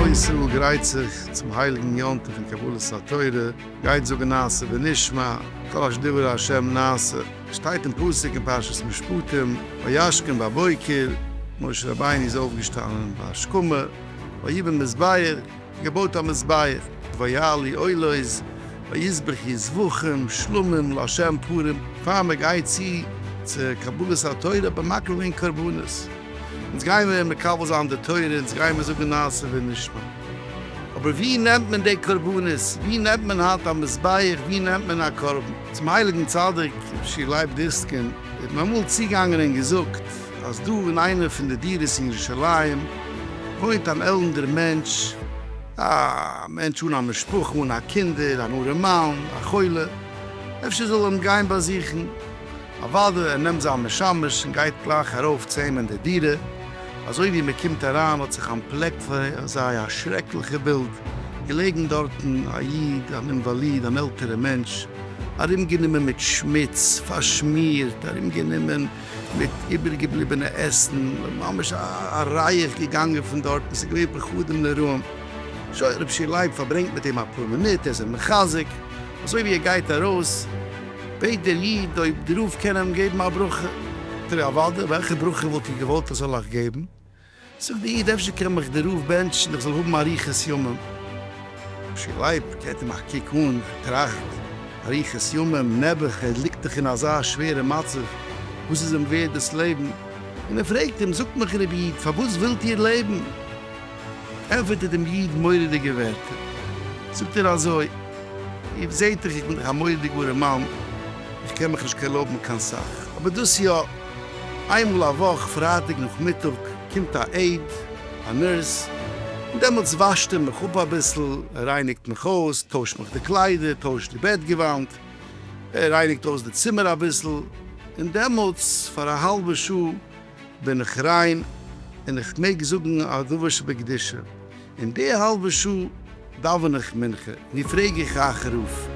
כלל ישראל גרייט זיך צום הייליגן יום טוב פון קבלת התורה, גייט זאגן נעשה ונשמע, כל אשר דיבר ה' נעשה, שטייט אין פסוק אין פרשת משפטים, וישכם בבוקר, משה רבינו איז אויפגעשטאנען בהשכמה, ויבן מזבח, געבויט א מזבח, ויעלי עולות, ויזבחי זבחים שלמים לה' פורים, פאר מען גייט צו צו קבלת התורה האט מען מקריב געווען קרבנות, אונז גיימער מקבל זיין די תורה, אונז גיימער זאגן נעשה ונשמע, אבער ווי נעמט מען די קרבנות, ווי נעמט מען היינט א מזבח, ווי נעמט מען א קרבן? צום הייליגן צדיק שי' לייב דיסקין האט מען אמאל צוגעגאנגען און געזאגט. אז דא אין איינע פון די דירות אין ירושלים וואוינט אן עלנדער מענטש, א מענטש אן א משפחה, אן א קינדער, אן ארעמאן, א חולה, אפשר זאל ער אים גיין באזוכן? אוודאי, ער נעמט זיין משמש און גייט גלייך ארויף צו אים אין די דירה, אזוי ווי מען קומט אריין האט זיך אנטפלעקט פאר זיי א שרעקליכע בילד, געלעגן דארטן א איד, אן אינוואליד, אן עלטערע מענטש, ארומגענומען מיט שמוץ, פארשמירט, ארומגענומען מיט איבערגעבליבענע עסן, ממש א רייעך געגאנגען פון דארטן, ס'איז געווען פחדים נוראים. שוין, רבשע לייב פארברענגט מיט אים אפאר מינוט, ער איז אים מחזק, אזוי ווי ער גייט ארויס, בעט דער איד אויב די רב קען אים געבן א ברכה. זאגט ער, אוודאי, וועלכע ברכה וואלט איר געוואלט איך זאל אייך געבן? זאגט דער איד, אפשר קען מיך דער רב בענטשן איך זאל האבן אריכות ימים. אפשר לייב געט אים א קוק אן, טראכט, אריכות ימים, נעבעך, ער ליגט דאך אין אזא שווערע מצב, וואס איז אים ווערד דאס לעבן? און ער פרעגט אים, זאגט מיך רבי איד, פארוואס ווילט איר לעבן? ענפערט ער דעם איד מורא'דיגע ווערטער, זאגט ער אזוי, איר זעט דאך איך בין דאך א מורא'דיגארע מאן, איך קען מיך נישט קעלאבן קיין סאך, אבער דאס יא, איינמאל א וואך פרייטאג נאכמיטאג קומט א עיד, א נורס, און דעמאלטס וואשט ער מיך אפ אביסל, ער רייניגט מיך אויס, טוישט מיך די קליידער, טוישט די בעט געוואנט, ער רייניגט אויס די צימער אביסל, און דעמאלטס פאר א האלבע שעה בין איך ריין, און איך מעג זאגן א דבר שבקדושה, אין די האלבע שעה דאווען איך מנחה, נו פרעג איך אייך רוף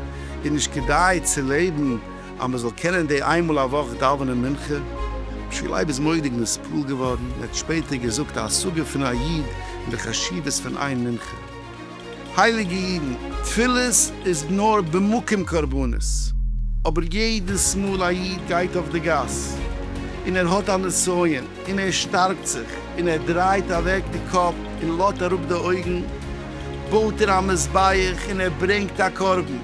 איז נישט כדאי צו לעבן אז מען זאל קענען די איין מאל א וואך דאווענען מנחה? משי לייב איז מורא'דיג נספעל געווארן, ער האט שפעטער געזאגט א השגה פון א איד אין די חשיבות פון איין מנחה. הייליגע אידן, תפילות איז נאר במקום קרבנות, אבער יעדעס מאל א איד גייט אויף די גאס און ער האט א נסיון, און ער שטארקט זיך, און ער דרייט אוועק די קאפ, און לאט אראפ די אויגן, בויט ער א מזבח, און ער ברענגט א קרבן,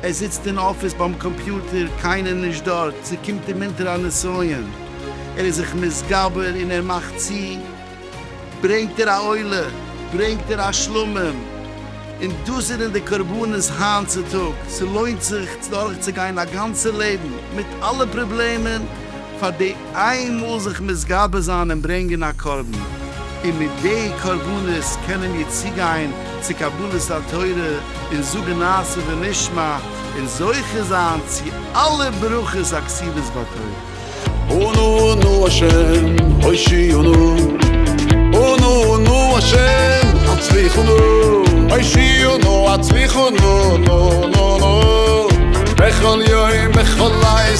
ער זיצט אין אפיס ביים קאמפיוטער, קיינער נישט דארט, ס'קומט אים אונטער א נסיון, ער איז זיך מתגבר, און ער מאכט צו, ברענגט ער א עולה, ברענגט ער א שלמים, און דאס זענען די קרבנות היינט צו טאג, ס'לוינט זיך דורכצוגיין א גאנצע לעבן, מיט אלע פראבלעמען, פאר די. איינמאל זיך מתגבר זיין און ברענגען א קרבן, און מיט די קרבנות קענען מיר צוגיין צו קבלת התורה און זאגן נעשה ונשמע און זוכה זיין צו אלע ברכות הכתובות בתורה. אנו אנו השם הושיענו אנו אנו השם הצליחנו הושיענו הצליחנו נו נו נו בכל יום בכל לעת